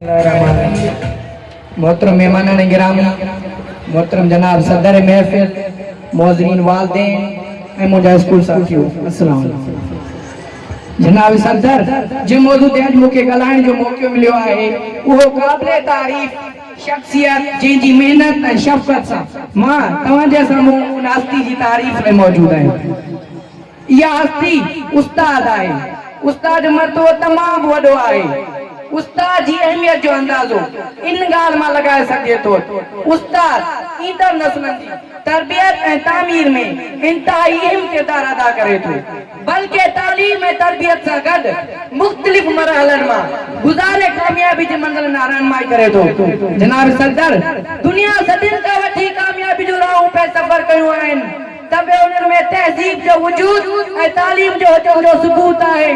بسم الله الرحمن الرحيم محترم مهمانان گرامي محترم جناب صدر محفل معزرين والدين ۽ منهنجا اسڪول ساٿيو السلام عليڪم جناب صدر جنهن موضوع تي اڄ مون کي ڳالهائڻ جو موقعو مليو آهي اهو قابل تعريف شخصيت جنهن جي محنت ۽ شفقت سان مان توهان جي سامهون ان هستي جي تعريف ۾ موجود آهيان اها هستي استاد آهي. استاد جو مرتبو تمام وڏو آهي. استاد جي اهميت جو اندازو ان ڳالهه مان لڳائي سگهجي ٿو ته استاد ايندڙ نسلن جي تربيت ۽ تعمير ۾ انتهائي اهم ڪردار ادا ڪري ٿو. بلڪه تعليم ۽ تربيت سان گڏ مختلف مرحلن مان گذاري ڪاميابي جي منزلن ڏانهن رهنمائي ڪري ٿو. جناب صدر دنيا صدين کان وٺي ڪاميابي جون راهون پئي سفر ڪيون آهن. ته به انهن ۾ تهذيب جو وجود ۽ تعليم جو هجڻ جو ثبوت آهي.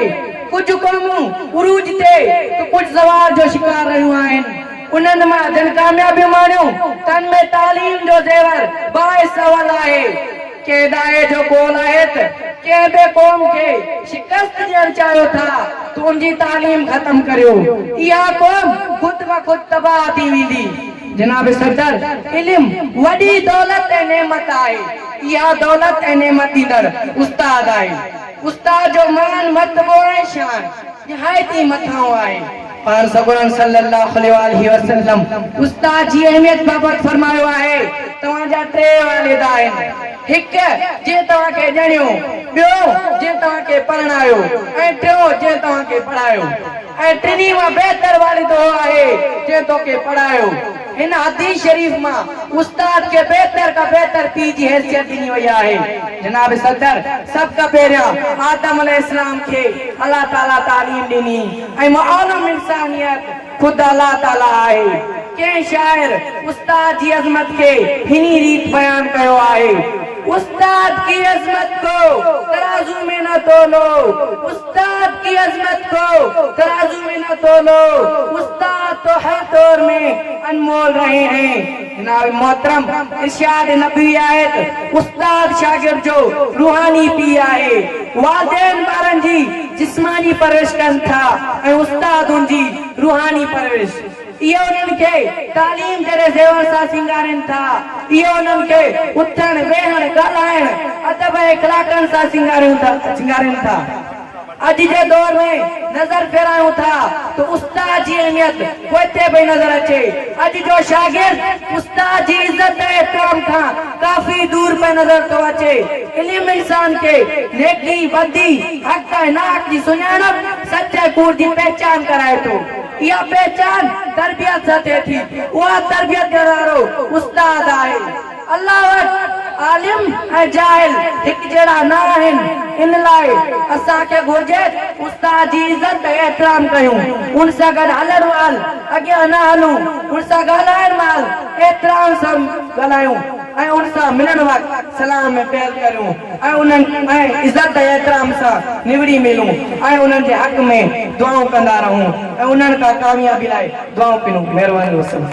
ڪجهه قومون عروج تي ته ڪجهه زوال جو شڪار رهيون آهن. انهن مان جن ڪاميابيون ماڻيون تن ۾ تعليم جو زيور باعث اول آهي. ڪنهن ڏاهي جو قول آهي ته ڪنهن به قوم کي شڪست ڏيڻ چاهيو ٿا ته ان جي تعليم ختم ڪريو. اها قوم خود بخود تباهه ٿي ويندي. جناب صدر، علم وڏي دولت ۽ نعمت آهي. اها دولت ۽ نعمت ڏيندڙ استاد آهي. استاد جو مان، مرتبو ۽ شان نهايت ئي مٿانهون آهي. پاڻ سڳورن صلّي اللّٰه عليه واٰله وسلّم استاد جي اهميت بابت فرمايو آهي، توهان جا ٽي والد آهن. هڪ، جنهن توهان کي ڄڻيو، ٻيو، جنهن توهان کي پرڻايو ۽ ٽيون، جنهن توهان کي پڙهايو ۽ ٽنهي مان بهتر والد اهو آهي، جنهن توکي پڙهايو. هن حديث شريف مان استاد کي بهتر کان بهتر پيء جي حيثيت ڏني وئي آهي. جناب صدر، سڀ کان پهريان آدم عليه السلام کي الله تعاليٰ تعليم ڏني ۽ معلم انسانيت، خود الله تعاليٰ آهي. ڪنهن شاعر استاد جي عظمت کي هني ريت بيان ڪيو آهي. استاد ڪي عظمت ڪو ترازو مين نه تولو، استاد ڪي عظمت ڪو ترازو مين نه تولو، استاد تو هر دور مين انمول رهي هين. جناب محترم ارشاد نبوي آهي ته استاد شاگرد جو روحاني پيء آهي، والدين ٻارن جي جسماني پرورش ڪن ٿا ۽ استاد ان جي روحاني پرورش، اهي انهن کي تعليم جهڙي زيور سان سينگارين ٿا، اهي انهن کي اٿڻ، ويهڻ، ڳالهائڻ، ادب ۽ اخلاقن سان سينگارين ٿا. اڄ جي دور ۾ نظر ڦيرايون ٿا ته استاد جي اهميت پوئتي پئي نظر اچي. اڄ جو شاگرد استاد جي عزت ۽ احترام کان ڪافي دور پئي نظر ٿو اچي. علم انسان کي نيڪي، بدي، حق ۽ ناحق جي سڃاڻپ، سچ ۽ ڪوڙ جي پهچان ڪرائي ٿو. اها پهچان تربيت سان ٿئي ٿي. اها تربيت ڏيڻ وارو استاد آهي. الله وٽ عالم ۽ جاهل هڪ جهڙا نه آهن، ان لاء اسان کي گهرجي ته استاد جي عزت ۽ احترام ڪيون، ان سان گڏ هلڻ مهل اڳيان نه هلون، ان سان ڳالهائڻ مهل احترام سان ڳالهايون ۽ ان سان ملڻ وقت سلام ۾ پيل ڪريون ۽ انهن ۽ عزت ۽ احترام سان نوڙي ملون ۽ انهن جي حق ۾ دعائون ڪندا رهون ۽ انهن کان ڪاميابي لاء دعائون پنون. مهرباني وسلام.